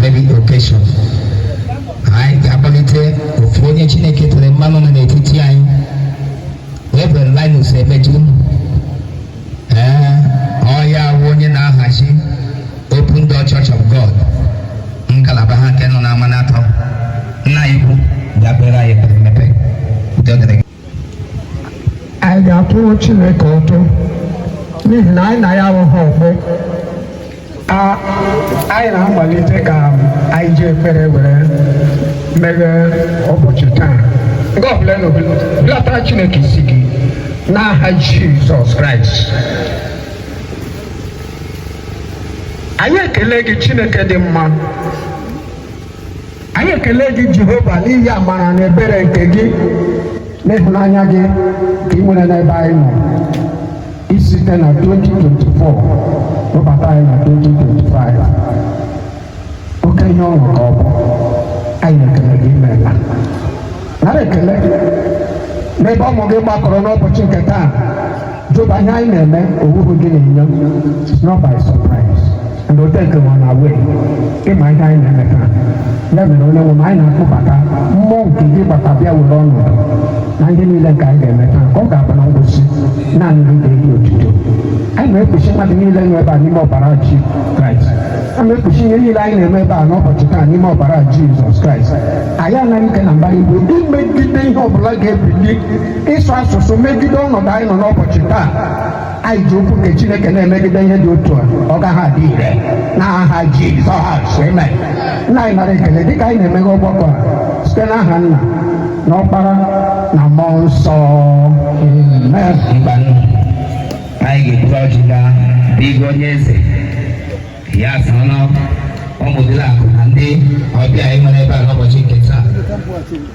David Okesho anyị ga-akpọlite ofu onye Chineke tere mmanụ nọ n'etiti anyị Reverend Linus Emeju ee ọ ya bụ onye na-ahazi Open Door Church of God ngalaba ha nke nọ n'Amanatọ nna anyị ukwu bịa kpeere anyị ekpere mmepe udo dịrị gị anyị ga-atụrụ Chineke ụtụ n'ihi na anyị na ya abụghị ọgbọ anyị na-amalite ka anyị ji ekpere were meghee ụbọchị taa onye ọbụla hulatara Chineke isi gị n'aha Jizọs Kraịst anyị ekele gị Chineke dị mma anyị ekele gị jehova n'ihi amara na ebere nke gị na ịhụnanya gị ka ị nwere n'ebe anyị nọ isite na 2024 webata anyị na 2025 oke ihe ọṅụ ka ọ bụ anyị ekele gị imeela nara ekele n'ebe ụmụ gị gbakọrọ n'ụbọchị nke taa Jehova ihe anyị na-eme ọ wụghị gị n'anya it's not by surprise and o take m unaware ị ma ihe anyị na-eme taa ya mere onye nwe m anyị na-akpọbata mmụọ nke gị gbata bịa were ọnọdụ na ihe niile nke anyị ga-eme taa ka ọ ga-abụ na ngwụsị naanị gị ga-eji otuto anyị na-ekpuchi mmadụ niile nọ ebe a n'ime ọbara jizọs kraịst a na-ekpuchi ihe niile anyị na-eme ebe a n'ụbọchị taa n'ime ọbara jizọs kraịst anyị anara ike na mbara igwe imegide ihe ọbụla ga-ebili ịsụ asụsụ megide ọnọdụ anyị nọ n'ụbọchị taa anyị ji okwu nke chineke na-emegide ihe dị otu a ọ gaghị adị ire n'aha jizọs amen nna anyị nara ekele dịka anyị na-emeghe ọgbakọ a site n'aha nna na ọkpara na mmụọ nsọ amen ngwanụ anyị ga-eburu ọjị gaa bịgo onye eze ya sọnụ ụmụ diala akụ na ndị ọbịa anyị nwere ebe a n'ụbọchị nke taa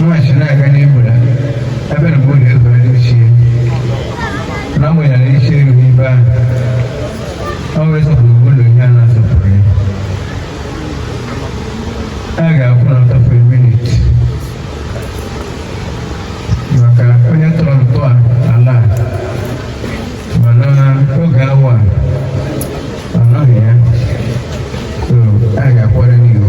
Mmachi na-aga n'ihu na ebe na mgbe oge ezoro ndị ochie na mgbe ya na iche eru n'ibe ahụ ọ wee sọpụrụ ụlọ ihe a na-asọpụrụ ya a ga-akwụ n'ọtọ ofu minit maka onye tọrọ ntọala a mana oge awa a ọ nọghị ya so a ga-akwara n'ihu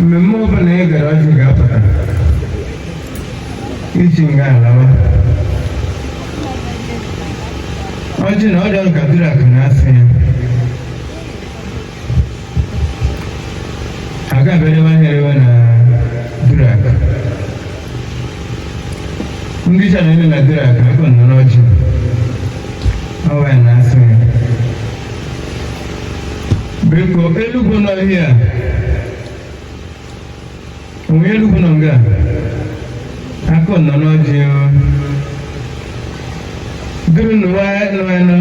mmemme ọbụla ị gara ọjị ga-apụta iji nga alawa ọjị na ọrịa ọga Duruakụ na asị ya agaberewa herewa na Duruakụ ndị cha na-ele na Duruakụ aka ụnụ n'ọjị ọwa ya na asị ya biko elugwu nọ ihe a onwe elugwu nọ nga aka ụnụ n'ọjị o duru n'ụwa nọ enu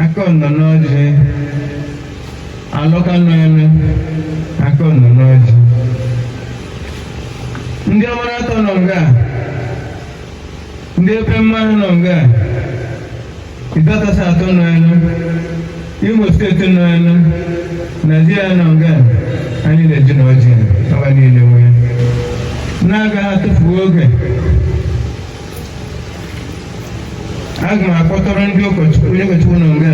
aka ụnụ n'ọjị alọka nọ enu aka ụnụ n'ọjị ndị ọmara atọ nọ nga ndị epe mmanụ nọ nga Nke kasị atọ nọ ya nọ, Imo steeti nọ ya nọ, Naijiria nọ nga anyị na-eji na ọjị ọha niile nwe ya. N'agaghị atụfu oge, aga m akpọtụrụ ndị ụkọchukwu onye ụkọchukwu nọ nga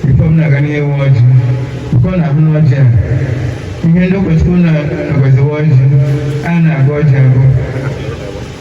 tupu m na-aga n'ịwa ọjị. Nke ọ na-ahụ n'ọjị a, ihe ndị ụkọchukwu na-agọziwa ọjị, a na-agọ ọjị agọ.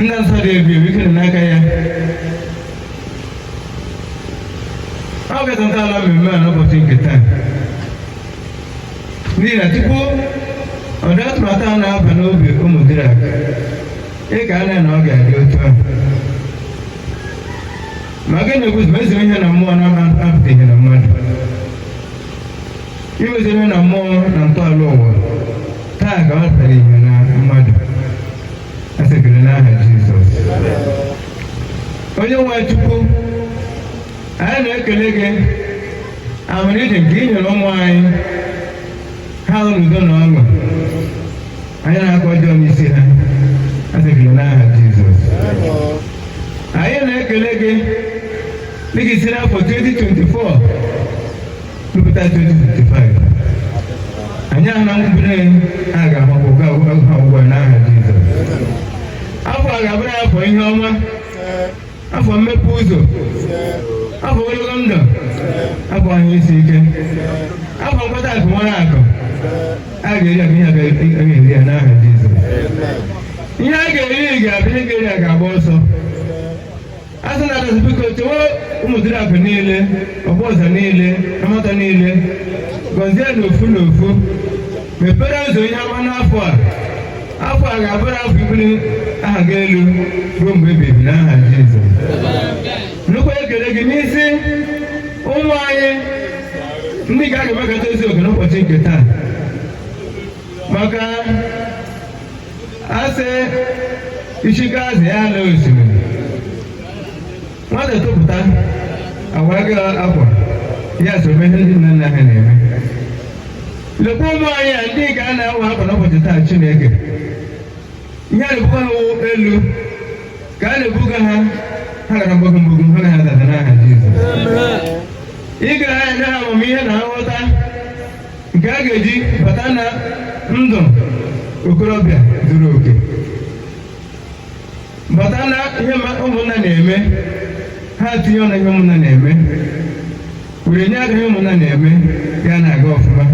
Nna nsọ dị ebube ike nọ n'aka ya. Ọ ga-ezo ntọala mmemme a n'ụbọchị nke taa. N'ihi na tupu ọdụ atụmatụ a na-aba n'obi ụmụ Duruakụ, ị kaala na ọ ga-adị otu a. Maka na okwu sị na ezi ihe na mmụọ na-apụta ihe na mmadụ? iwezere na mmụọ na ntọala ụwa taa ka ọ pụtara ihe na mmadụ a sị ekele n'aha jizọs onye nwe chukwu anyị na-ekele gị amụrịdị nke ị nyere ụmụ anyị ha nọ n'udo na ọṅụ anyị na-akọ ọjọọ n'isi ha a sị ekele n'aha jizọs anyị na-ekele gị dịka ị si n'afọ 2024 Mpụta 2025 anyị ahụ na nkwupụta ya a ga-ahụ ha ugbu a n'aha Jizọs afọ a ga-abụrụ ha afọ ihe ọma afọ mmepe ụzọ afọ ogologo ndụ afọ ahụ isi ike afọ mkpata akụ nwere akụ ha ga-eri akụ agaghị eri ha n'aha Jizọs ihe ha ga-eri ga-abịa ihe ga-eri ha ga-agba ọsọ azụ na adịghị biko chewe Ụmụduruaku niile ọbụ ọzọ niile Amatọ niile gọzie n'ofu n'ofu mepere ụzọ ihe ọma n'afọ a afọ a ga-abụrụ afọ ibuli aha gị elu ruo mgbe ebighị ebi n'aha Jizọs nnukwu ekele gị n'isi ụmụ anyị ndị ga-aga emekọta eziokwu n'ụbọchị nke taa maka a sị isi ka azụ ji ala osimiri nwata topụta a wara gị akwa ya so mee ihe ndị nna nna ha na-eme lekwa ụmụ anyị a ndị a na-awa akwa n'ụbọchị taa chineke ihe a na-ebuga ha elu ka a na-ebuga ha ha gara mgbago mgbago ha na-adada n'aha Jizọs ị ga na-enye ha amamihe na nghọta nke a ga-eji bata na ndụ okorobịa zuru oke bata na ihe ụmụnna na-eme ha tinye ọnụ n'ihe ụmụnna na-eme were nye aka ihe ụmụnna na-eme ya na-aga ọfụma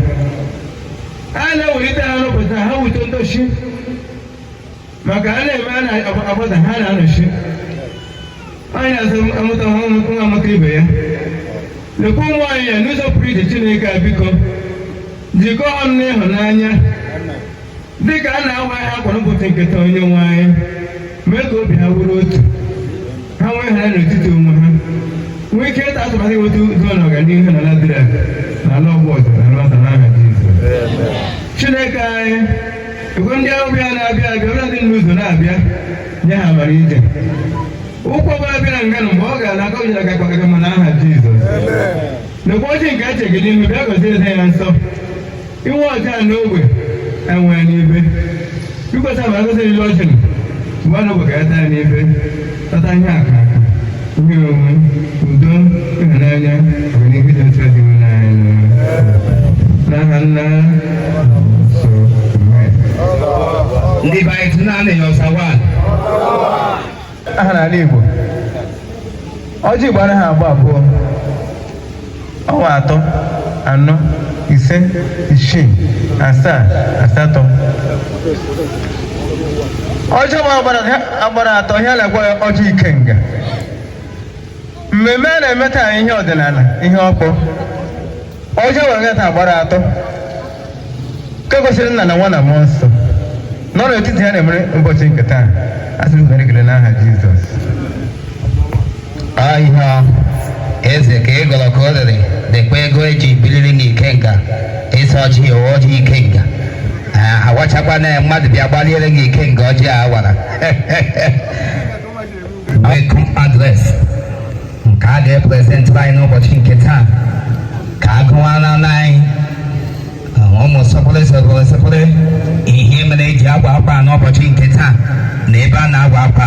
a na-ewelite ha n'ụbọchị taa ha wụrụ ndochi maka a na-eme a na-agbada ha na-anọchi anyị n'azụ amụta nwa nwa amụta ibe ya lekwa ụmụ anyị ya n'ụzọ pụrụ iche chineke a biko jikọọ ha ọnụ n'ịhụnanya dị ka a na-awa ha akwa n'ụbọchị nke taa onye nwe anyị mee ka obi ha wụrụ otu ha nwee ịhụnanya n'etiti onwe ha nwee ike ịtụ atụmatụ inweta udo na ọganihu na ladịra na ala ọgbọ ọzọ na nwata n'aha Jizọs chineke anyị Igwe ndị ọbịa na-abịa abịa na ndị nọ n'ụzọ na-abịa nye ha amara ije ụkwụ ọbụla bịara nga na mgbe ọ ga-ala aka ojila gakpagaga mana aha Jizọs lekwa ọjị nke e chere gị n'ihu bịa gọzie eze ya nsọ ị nwee ọjị n'ogbe anyị enwee n'ibe ikwesa ma ngọzi niile ọjị a n'ogbe ka anyị taa n'ibe kpata ihe aka aka ihe onwe udo ịhụnanya ọganihu ịdị n'otu dinwenụ anyị n'aha nna so amen ndị be anyị tụna anị ya ọsawa aha n'ala igbo ọjị gbara ha agba abụọ ọ wa atọ anọ ise isii asaa asatọ ọjị nwa gbara agbara atọ ihe a na-akpọ ya ọjị ikenga mmemme a na-eme taa ihe ọdịnala ihe okpu ọjị nwa taa gbara atọ nke gosiri nna na nwa na mmụọ nsọ nọ n'etiti ha na-emere ụbọchị nke taa a sị m ekele n'aha Jizọs onye eze ka ị gọrọ ka o rere lekwa ego e ji biliri n'ikenga ịsọ ọjị ewe ọjị ikenga awachakwa na mmadụ bịa gbaliere n'ikenga ọjị a wara welcome address nke a ga-eprezentịrị anyị n'ụbọchị nke taa ka a gụwara anyị ụmụ sọpụrụ sọpụrụ sọpụrụ ihe mere e ji awa akwa n'ụbọchị nke taa na ebe a na-awa akwa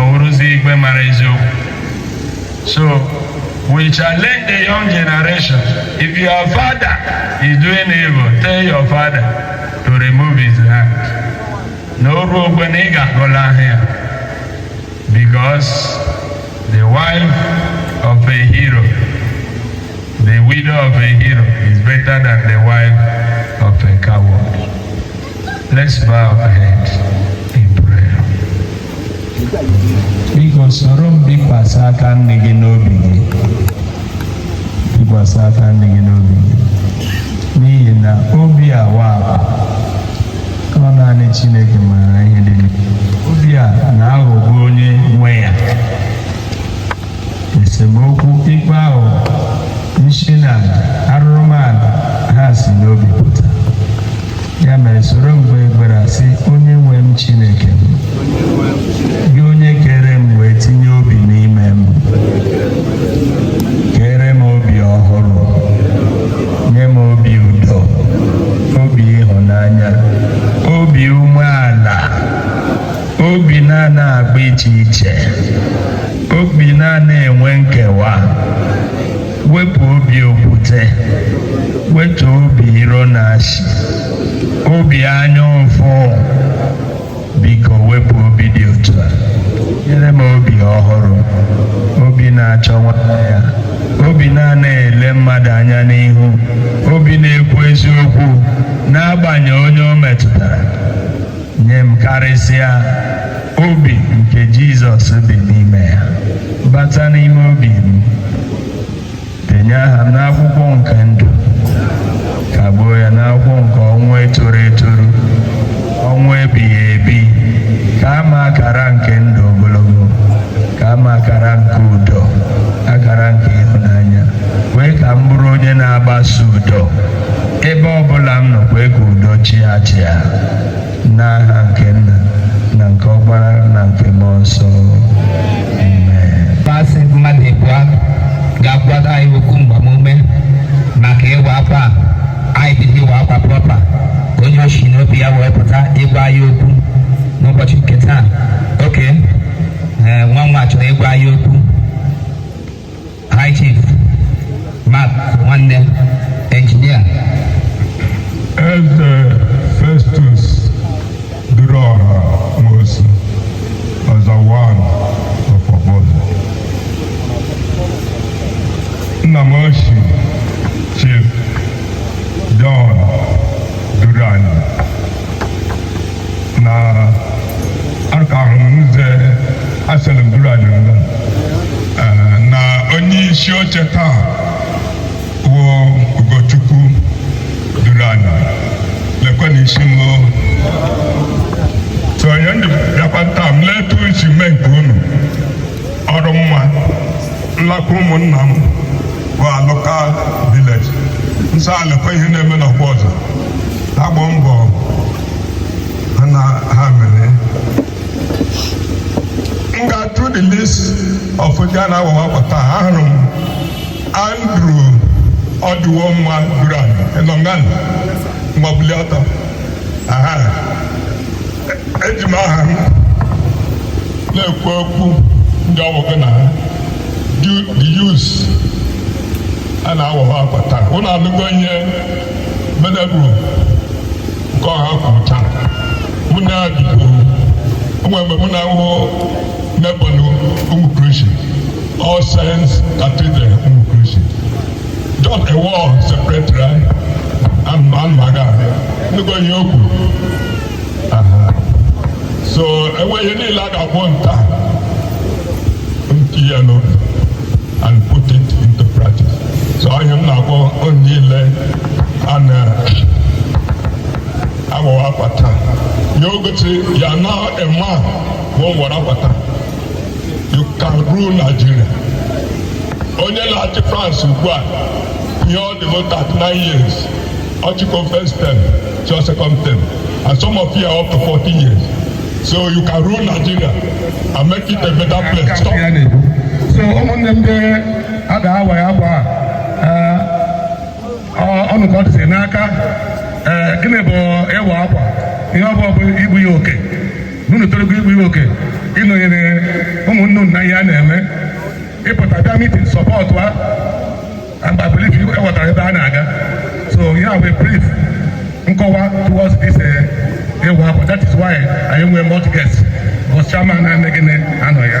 ọwụrụzi igwe mara eziokwu so we challenge the young generation if your father is doing evil tell your father to remove his hand na oru ogbe na ị ga-agọla ahụ ya because the wife of a hero the widow of a hero is better than the wife of a coward Let's bow our heads in prayer. Biko soro m bikwasị aka nni gị n'obi gị. Bikwasị aka nni gị n'obi gị. N'ihi na obi a wara ọ naanị Chineke maara ihe dị n'ime. Obi a na-aghọgbu onye nwe ya. esemokwu ikpe ahụ nsi na aja arụrụmala ha si n'obi pụta ya mere soro m kpee ekpere sị onye nwe m chineke m gị onye kere m wee tinye obi n'ime m kere m obi ọhụrụ nye m obi udo obi ịhụnanya obi umeala obi na-ana agba iche iche obi na-ana enwe nkewa wepụ obi okwute wepụ obi iro na asị obi anya ụfụ biko wepụ obi dị otu a nyere m obi ọhụrụ obi na-achọ nwanne ya obi na-ana ele mmadụ anya n'ihu obi na-ekwu eziokwu n'agbanyeghị onye o metụtara nye m karịsịa obi nke Jizọs bi n'ime ya bata n'ime obi m denye aha m n'akwụkwọ nke ndụ kagbuo ya n'akwụkwọ nke ọnwụ etoro eto ọnwụ ebighị ebi kaa m akara nke ndụ ogologo kaa m akara nke udo akara nke ịhụnanya kwee ka m bụrụ onye na-agbasa udo ebe ọ bụla m nọ kwee ka udo chịa achịa n'aha nke nna na nke ọkpara na nke mmụọ nsọ amen Masị mmadụ ịbụọ ga-agwa anyị okwu mgbamume maka ịwa akwa a. anyị bido ịwa akwa prọpa ka onye o shi n'obi ya wee pụta ịgwa anyị okwu n'ụbọchị nke taa okay, nwa nwa chọrọ ịgwa anyị okwu High Chief Mark Nwanne Engineer Eze Festus Duruọha Nwosu Ọza One of Ọbọzọ nna m ochie Chief John Duruanyị na aka ahụ nze aseleburu adịrịla na onye isi oche taa wụ Ugochukwu Duruanyị lekwe na isi m so onye ndị bịakwa taa m letu isi mee nke unu ọrụ mma nlakwa ụmụnna m bụ alụka village nso a lekwe ihe na-eme n'ọkwa ọzọ agba mbọ ha na ha mere m ga through the list of ndị a na-awawa akwa taa ahụrụ m Andrew ọdịwo mma Duruanyị enongan mgbabuli ọtọ aha eji m aha m na-ekwu okwu ndị ọgbakọ na ha Du- the youth a na-awa ha akwa taa ụnụ anụgo ihe Venerable Nkeọha kwuru taa mụ na ya dịburu o nwe mgbe mụ na ya wụ neighbour na Rumuokwurusi All Saints Cathedral Rumuokwurusi Dọk Ewọ secretary anyị anụmaga ahụ nnukwu ihe o kwuru so unu were ihe niile a ga-agwa unu taa tinye n'obi and put it into practice so ihe m na-agwa unu niile a na-awawa akwa taa ya o gosi ya na ema bụ a wara akwa taa you can rule Nigeria onye na-achị France ugbu a ihe ọ dị bụ 39 years ọ chịkọ first term chịọ second term and some of you are up to 40 years so you can rule Nigeria and make it a better place so ụmụnne m ndị a ga-awa ya akwa a, ọ ụnụ ka ọ dịzi n'aka ee, gịnị bụ ịwa akwa ihe ọ bụ bụ igbu ihe oke unu torugo igbu ihe oke ịnọnyere ụmụnne unu n'ihe a na-eme ịpụta bịa meeting supportụa mgbe belief ewetara ebe a na-aga so ihe a wụ brief nkọwa towards this ịwa eh, akwa that is why anyị nwee multi guest bọs chairman na-eme gịnị anọ ya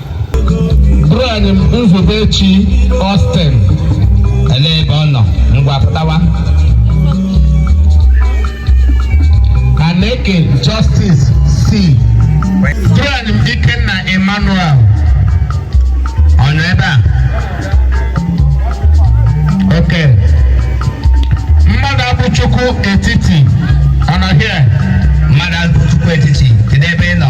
bụrụ anyị Nzubechi Austin elee ebe ọ nọ ngwa pụtawa Aneke Justice C bụrụ anyị Ikenna Emmanuel ọ nọ ebe a oke Mmadụabụchukwu Etiti ọ nọ here Mmadụabụchukwu Etiti kedu ebe ị nọ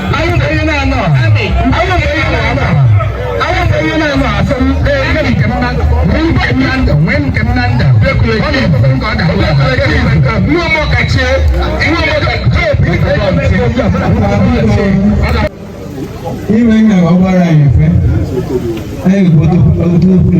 iwe nga ọ gbara ya mfe anyị obodo obodo obodo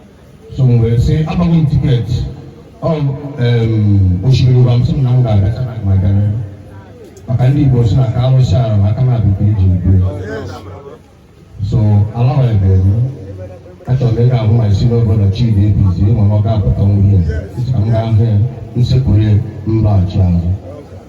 so m wee sị agbago m tiketi ọ em, osimiri ụwa m sị m na m ga-agacha na ma gara maka ndị igbo sị na ka alụsị ala ma aka na-abụ ka eji udo so alawa ebe m achọrọ m ịga ahụ ma isi n'obodo chidi ebizi ma ọ ga-apụta nwunye ka m gaa hụ ya m sekpuru ya m laghachi azụ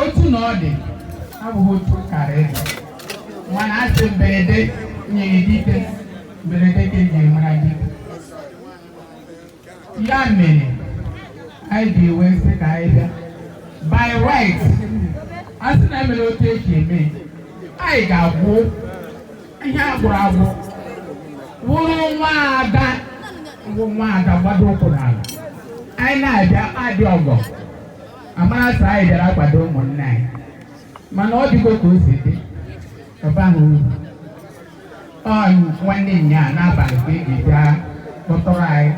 otu na ọ dị abụghị otu kara ịdị mana a sị mberede nyiri dike mberede ka eji mara dike ya mere anyị ji wee sị ka anyị bịa by right a sị na emere otu eji eme anyị ga-agwụ ihe a gwụrụ agwụ wụrụ nwa ada wụ nwa ada gbado ụkwụ n'ala anyị na-abịa adị ọgọ a mara sị anyị bịara akwado ụmụnne anyị mana ọ dịgo ka o si dị ọba ahụ uru ọ nwanne nyaa n'abalị ka eji bịa kpọtụrụ anyị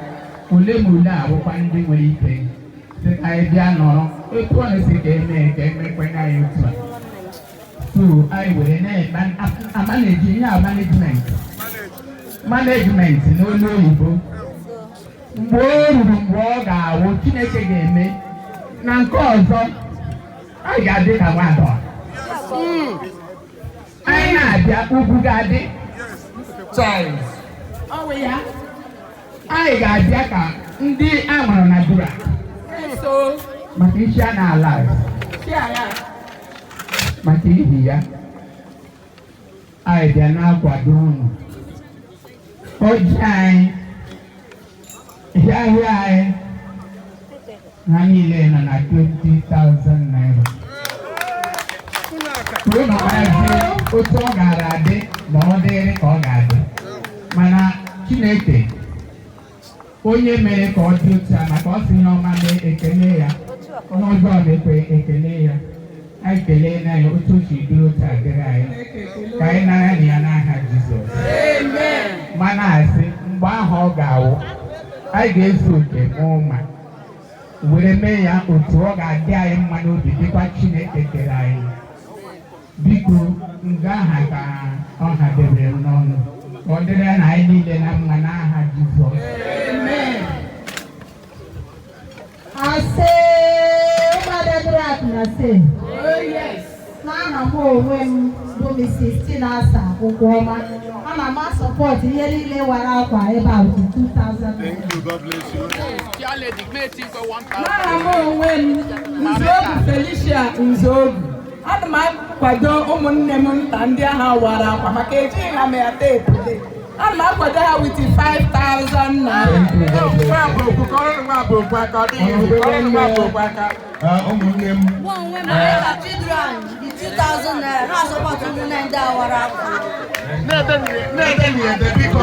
ole ma ole abụkwa ndị nwere ike sị ka anyị bịa nọrọ etu ọ na-esi ka eme ka emekwanye anyị otu a so anyị were na-amanage ihe a management management n'olu oyibo mgbe o ruru mgbe ọ ga-awụ chineke ga-eme na nke ọzọ a ga-adị ka nwada anyị na-abịa ugwu ga-adị chọrọ ọ bụ ya anyị ga-abịa ka ndị a mụrụ na dura maka isi a na-ala maka ihi ya anyị bịa na-akwado unu ọjị anyị ihe ahịa anyị ha niile nọ na 20,000 naira kwuru na ọgarazi otu ọ gaara adị ma ọ dịrị ka ọ ga-adị mana chineke onye mere ka ọ dị otu a maka ọ sị ihe ọma mee ekele ya onye ọjọọ mekwaa ekele ya anyị kelee na ya otu o si dịrị otu a dịrị anyị ka anyị nara na ya n'aha Jizọs ma na-asị mgbe ahụ ọ ga-awụ anyị ga-ezu oke n'ụma were mee ya otu ọ ga-adị anyị mma n'obi dịkwa Chineke kere anyị biko nga ahụ ka ọ ha debere m n'ọnụ ka ọ dịrị na anyị niile na mma n'aha Jizọs ase ụmụada Duruakụ na se n'aha m onwe m bụ Mrs. Chinasa Ụgwọma ana m a-support ihe niile wara akwa ebe a with 2000 n'aha m onwe m Nzeogu Felicia Nzeogu ana m akwado ụmụnne m nta ndị ahụ wara akwa maka ejighị ha ma ya teepu ana m akwado ha with 5000 naira ụmụnne m na-ede na-ede biko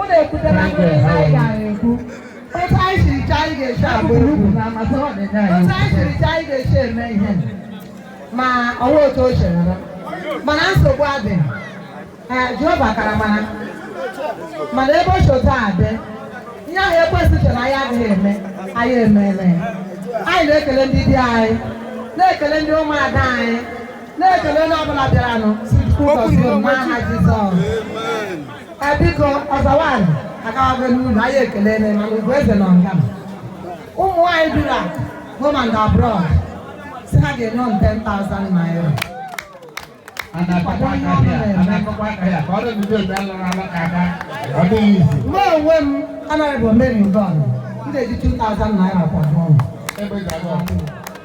Ụlọ ekwutela ndị anyị ga-ekwu. Otu anyị siri chọọ anyị ga-esi abụ egwu. Otu anyị siri chọọ anyị ga-esi eme ihe. Ma ọ wụ otu o chere na. Mana nsogbu adịghị. Ee, Jehova kara mara. Mana ebe o si otu a dị, ihe ahụ ekwesị chere anyị adịghị eme, anyị emeela ya. Anyị na-ekele ndị di anyị, na-ekele ndị ụmụada anyị, na-ekele onye ọbụla bịaranụ sị Chukwu gọzie unu n'aha Jizọs. biko ọzọ nwaanyị agawago n'ụlọ anyị ekele na mana Ugoeze na ọga ụmụ nwaanyị Duruakụ home and abroad sị ha ga-enye m 10,000 naira mụ onwe m anaghị bụ omeri ụdọ m na-eji 2,000 naira kwa ọnụ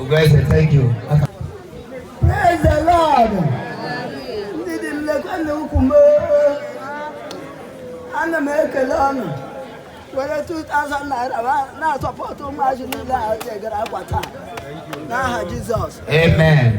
Ugoeze, thank you. Praise the Lord. Ndị dị nlekwa na ukwu m ana m ekele unu were 2000 naira na-a-support ụmụazị niile wara akwa taa n'aha Jizọs. Amen.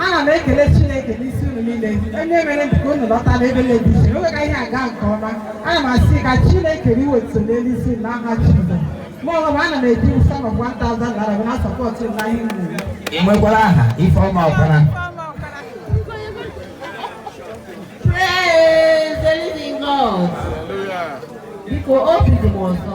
ana m ekele chineke n'isi unu niile onye mere ka unu lọta n'ebe na-ebizi oge ka ihe aga nke ọma ana m asị ka chineke riwe otuto n'elu isi n'aha jizọs ma ọ bụ ana m eji sum of 1000 naira na-asọpọtụ na ihe m na-eme ị nwekwara aha ifeọma ọkpara Praise the living God. Biko obi dị m ụtọ.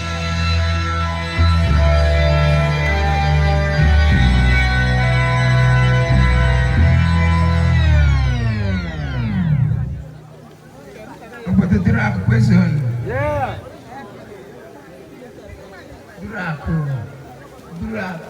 Obodo duru akụ kwesịrị. Duru akụ. Duru akụ.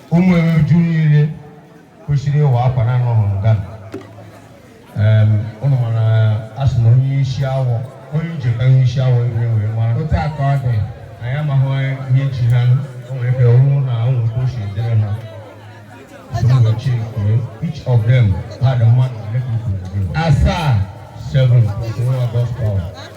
ụmụ eweju niile kwesịrị ịwa akwa na anọ nga ụnụ mana a sị na onye isi awọ onye ije ka onye isi awọ iwe wee mara otu a ka ọ dị anyị amaghị ihe ji ha o nwere ike ọrụ na ụmụ ka o si edere ha Sumuchi kwuru each of them had a month asaa seven plus one August power.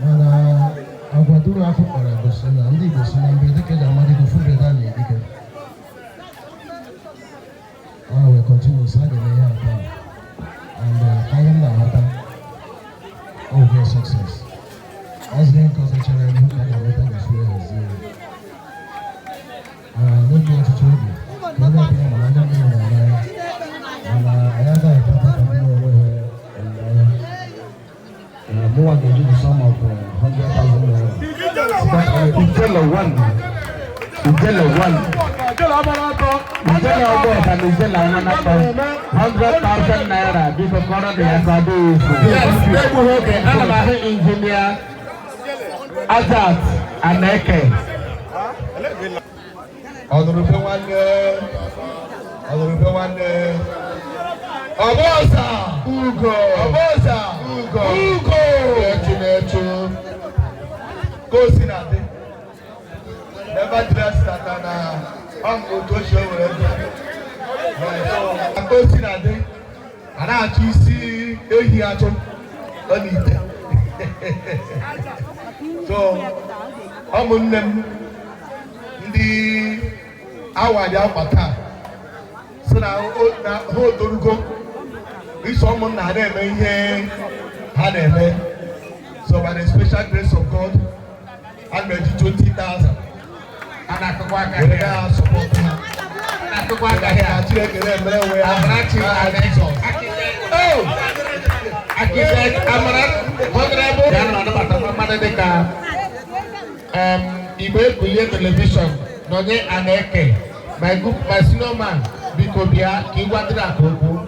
mana agwa duru afọ kpara gosi na ndị Igbo si na mbe dịka eji amadịgo fubeda na edike ọ wee kọntinu sa ga ihe ata and uh, ahịa m na-aghọta ọ bụ sọkses ọzọ ihe nke ọzọ chere ihu ka ga-enweta na fure hazie n'oge ọtụtụ oge ka onye ọbụla mara anya mmiri na Azat Aneke. ọnụrụ ube nwanne ọnụrụ ube nwanne ọbọsa ugo ọbọsa ugo ugo na-echu na-echu ka o si na-adị never dress tata na ọmụ otu ochie were dị ka o si na-adị a na-achọ isi ehi achọ n'ite so ụmụnne m ndị a wara akwa taa sị na ha etorugo iso ụmụnna ha na-eme ihe ha na-eme so by the special grace of God ana m eji 20,000 a na-akụkwa aka were ya ha sọpọtụ ha na-akụkwa aka ya ka Chineke na-emere onwe ya amara n'aha Jizọs Oh! Akịja Amara Honorable ya na-anabata mmadụ dịka um, Igbo Ekulie Television Nonye Aneke my group my senior man biko bịa ka ị gwadịrị aka okwu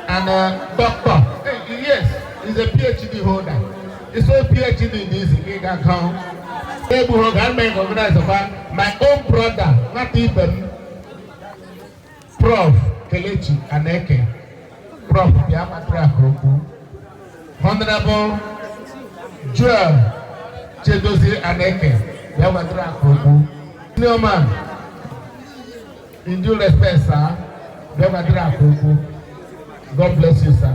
and uh, doctor yes is a PhD holder it's a PhD in this ị ga-akọ egbughị oge a na-eme recognize kwa my own brother nwata ibe m Prof. Kelechi Aneke, Prof. bịa matara aka okwu. Honorable Joel Chidozie Aneke bịa matara aka okwu. Ndị ọma, in due respect, sir, bịa matara aka okwu. God bless you, sir.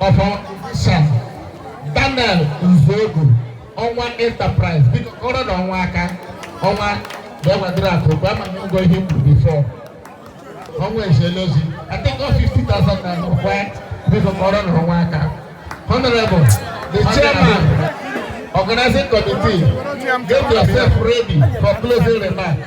of our official Daniel Uzogu ọnwa enterprise biko kụọrọnụ ọnwa aka ọnwa bịa matara aka okwu mgbe ama na ụgwọ ihe mkpu before ọnwa eziela ozi I think ọ 50,000 na ọkwa biko kụọrọnụ ọnwa aka honorable the chairman organizing committee get yourself ready for closing remarks.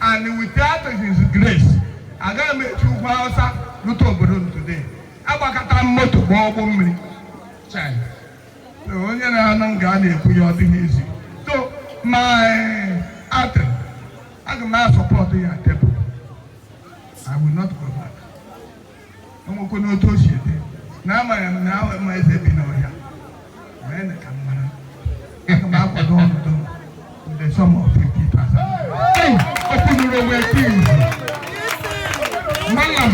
and without his grace agaghị m esi ugwu awụsa rute obodo m today agbakọtara m moto gba ụgbọ mmiri Chai. So, onye na-anụ m ga a na-ekwu ya ọ dịghị izi so my atem aga m a-support ya table I will not go back. enwekwe n'otu o si dị na amaghị m na ahụ ma eze bi n'ọhịa ma ene ka m mara aga m akwado ọnọdụ the sum of 50,000 okwuduru onwe nke izu malam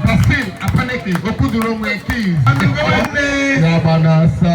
basil apaniki okwuduru onwe nke izu ya gba na asa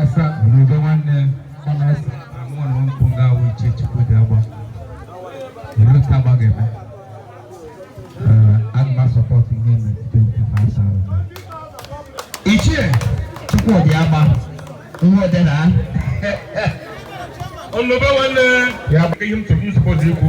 asa n'udo nwanne kọmesi amụọ na nkwụ nga awụ ichie Chukwudi agba ebe ka agba ga-eme aga m a-support ihe metụta okwu na asa ichie Chukwudi agba ihe ọdị na ọnụbe nwanne ya bụ ihe m chọrọ ị-support ikwu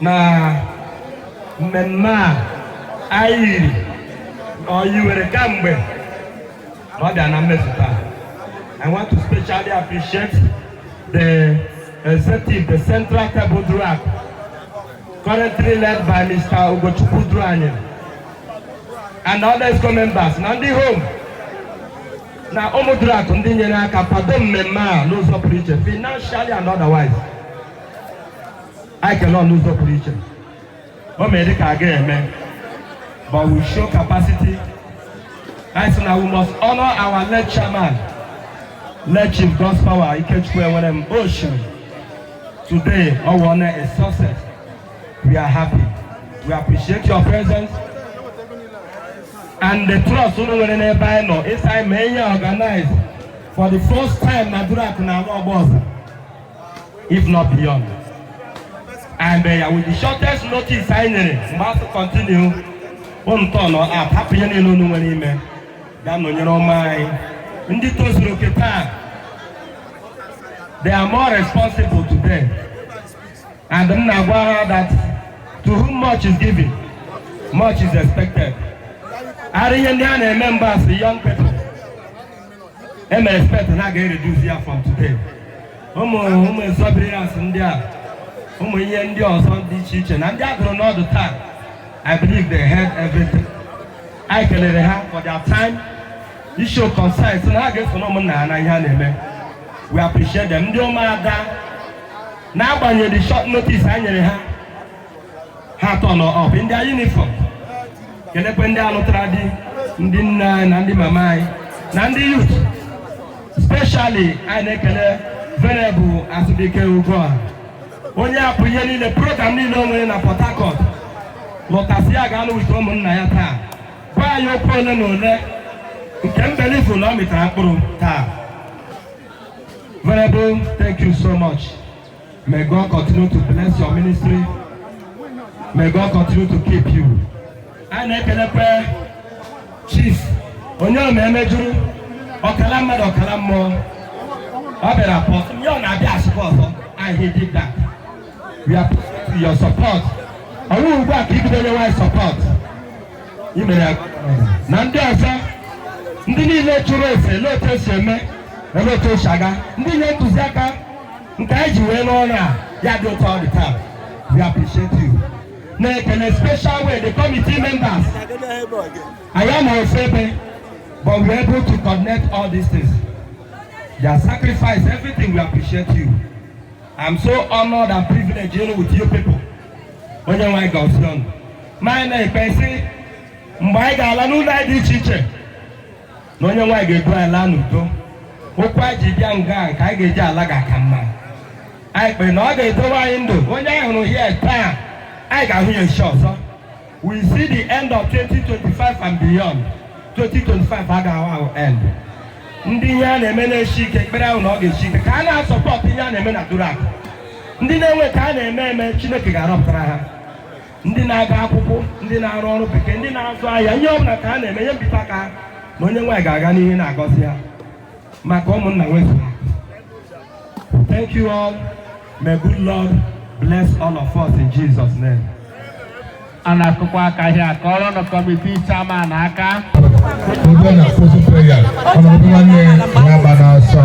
na mmemme a anyị yiri na anyị nwere kamgbe na ọ bịa na mmezu taa I want to specially appreciate the executive, the central table Duruaku, currently led by Mr. Ugochukwu Duruanyị, and other exco members na ndị home na Ụmụduruaku ndị nyere aka kwado mmemme a n'ụzọ pụrụ iche financially and otherwise. anyị kele unu ụzọ pụrụ iche o mere dịka a ga-eme but we show capacity anyị sị na we must honor our late chairman late chief Godspower Ikechukwu Enwerem ocean today ọ wụọna a success we are happy we appreciate your presence and the trust unu nwere n'ebe anyị nọ ịsị anyị mee ya organize for the first time na Durak na ala ọgba ọzọ if not beyond and uh, with the shortest notice anyị nyere mgbe a sị continue unu turn up hapụ ihe niile unu nwere ime ga-anọnyere ụmụ anyị ndị tozuru oke taa they are more responsible today and m na-agwa ha that to whom much is given much is expected ara ihe ndị a na-eme mgbe a sị young people eme expect na a ga-ereduce ya from today ụmụ ụmụ exuberance ndị a ụmụ ihe ndị ọzọ dị iche iche na ndị a gụrụ n'ọdụ taa I believe they heard everything anyị kelere ha for their time ịshow concern so na ha ga-esoro ụmụnna ha na ihe a na-eme we appreciate them ndị ụmụada n'agbanyeghị short notice a nyere ha ha turn up in their uniform kelekwe ndị alụtara di ndị nne anyị na ndị mama anyị na ndị youth specially anyị na-ekele Venerable Azụbike Ugoha onye hapụ ihe niile program niile o nwere na port harcourt lọta sị ya ga-anọ with ụmụnna ya taa gwa anyị okwu ole na ole nke m believe na ọ mịtara mkpụrụ taa Venerable thank you so much May God continue to bless your ministry. May God continue to keep you. A na-ekelekwa chief onye ọ na-emejuru ọkala mmadụ ọkala mmụọ ọ bịara pọ nye ọ na-abịa asụkọ ọzọ and he did that. We are to your support. Ọ bụghị ugbu a ka i bido inye anyị support. I mere ya na ndị ọzọ ndị niile chụrụ ese ele otu e si eme ele otu e si aga ndị nye ntụziaka nke anyị ji wee n'ọrụ a ya dị otu ọ dị taa we appreciate you na-ekele special way the committee members anyị anọ ofu ebe but we are able to connect all these things their sacrifice everything we appreciate you i'm so honored and privileged dealing with you people onye nwe anyị gọzie unu ma anyị na-ekpe sị mgbe anyị ga-ala n'ụlọ anyị dị iche iche na onye nwe anyị ga-edu anyị laa n'udo ụkwụ anyị ji bịa nga nke anyị ga-eji ala ga-aka mma anyị kpere na ọ ga-edowe anyị ndụ onye anyị hụrụ here taa anyị ga-ahụ ya echi ọzọ we see the end of 2025 and beyond 2025 agaghị ahụ end ndị ihe a na-eme na-eshi ike ekpere ahụ na ọ ga-eshi ike ka a na-asọpọtụ ihe a na-eme na Duruaku ndị na-enwe ka ha na-eme eme chineke ga-arọpụtara ha ndị na-aga akwụkwọ ndị na-arụ ọrụ bekee ndị na-azụ ahịa ihe ọ bụla ka ha na-eme ihe mbite aka ha ma onye nwe anyị ga-aga n'ihu na-agọzi ha maka ụmụnna nwezu ha thank you all may good lord bless all of us in jesus name a na-akụkwa aka ahịa ka ọrụ nọ kọmiti chairman aka Obinna closing prayers, ọ na-abụ nwanne ya gba n'ọsọ.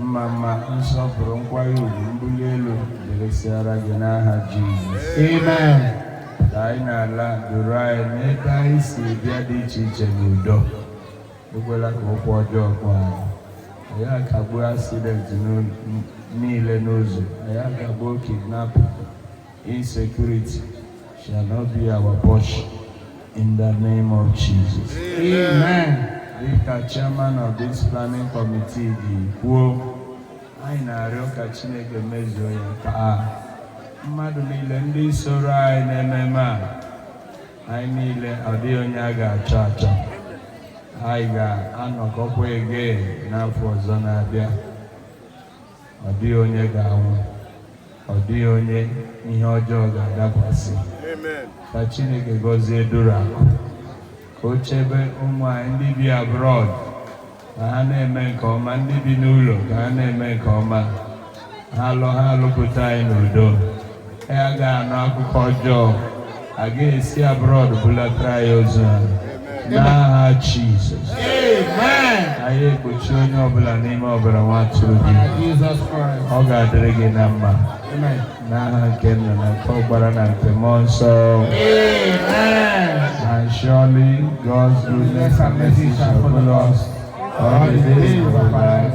mma mma nsọpụrụ nkwanye ugwu mbuli elu dịrịsịara gị n'aha Jizọs amen ka anyị na-ala duru anyị n'ebe anyị si bịa dị iche iche n'udo ekwela ka ụkwụ ọjọọ kpọọ anyị anyị akagbuo asidenti niile n'ụzọ anyị akagbuo kidnapụ Insecurity shall not be our portion in the name of Jesus. Amen. Dịka chairman of this planning committee ji kwuo, anyị na-arịọ ka Chineke mezuo ya taa. Mmadụ niile ndị soro anyị n'ememe a, anyị niile ọ dịghị onye a ga-achọ achọ. Anyị ga-anọkọkwa again n'afọ ọzọ na-abịa. ọ dịghị onye ga-anwụ ọ dịghị onye ihe ọjọọ ga-adakwasị ka Chineke gọzie Duruaku ka o chebe ụmụ anyị ndị bi abroad ka ha na-eme nke ọma ndị bi n'ụlọ ka ha na-eme nke ọma ha lọ ha alọpụta anyị n'udo anyị agaghị anụ akụkọ ọjọọ a gaghị esi abroad bulatara anyị ozu ha n'aha Jizọs anyị ekpuchi onye ọbụla n'ime ọbara nwa atụrụ gị ọ ga-adịrị gị na mma n'aha nke nna na nke ọkpara na nke mmụọ nsọ and surely God's goodness and mercy shall follow us all the days of our life